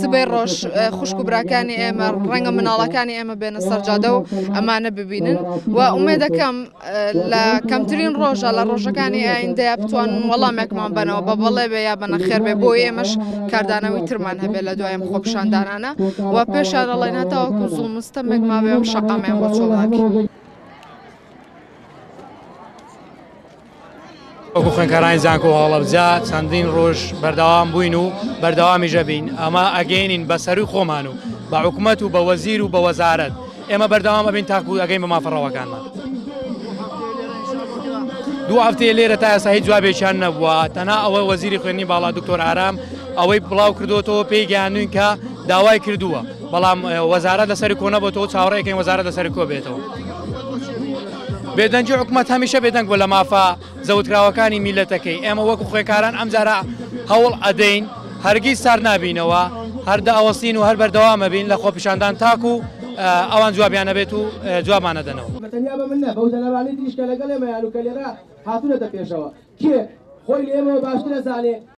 سبەی ڕۆژ خوشک و براکانی ئێمە ڕەنگە مناڵەکانی ئێمە بێنە سەرجادە و ئەمانە ببینن و ئومێ دەکەم لە کەمترین ڕۆژە لە ڕۆژەکانی ئایندەیە بتوان وەڵامێکمان بنەوە بە بەڵێ بێ یا بەنە خێر بێ بۆ ئێمەش کاردانەوەی ترمان هەبێت لە دوایم خۆپشاندانانە و پێشارە ڵێ ناتاوەکو زوڵ مستەمێک ما بێم شەقامێن بۆ چۆڵاکی. وەکو خوێنکارانی زانکۆ هەڵەبجە چەندین ڕۆژ بەردەوام بووین و بەردەوامیژە بین ئەمە ئەگەینین بە سەروی خۆمان و بە حکوومەت و بە وەزیر و بە وەزارت ئێمە بەردەوام ئەبین تاکو ئەگەین بە مافەڕەوەکانمان دو هەفتەیە لێرە تا ئێستا هیچ جوابێکیان نەبووە تەنها ئەوە وەزیری خوێنی باڵا دکتۆر ئارام ئەوەی بڵاو کردوەوە پێی گەیانوین کە داوای کردووە بەڵام وەزارە لەسەر کۆنەبەوە چاوەڕێکەین وەزارە لەسەر کۆ بێتەوە. بێدەنگی حکومەت هەمیشە بێدەنگ بۆ لە مافە زەوتراوەکانی میلەتەکەی ئێمە وەکو خوێکاران ئەمجارە هەوڵ ئەدەین هەرگیز سار نابینەوە هەردە ئەوەستین و هەر بەردەوامە بین لە خۆپیشاندان تاکو ئەوان جوابیانە بێت و جوابانە دەنەوە تەنیا بە من نە بەو جەنەرانی تریش کە لەگەڵ ئێمەیان و کە لێرە هاتوونەتە پێشەوە کێ خۆی لە ئێمەوە باشتر ئەزانێ.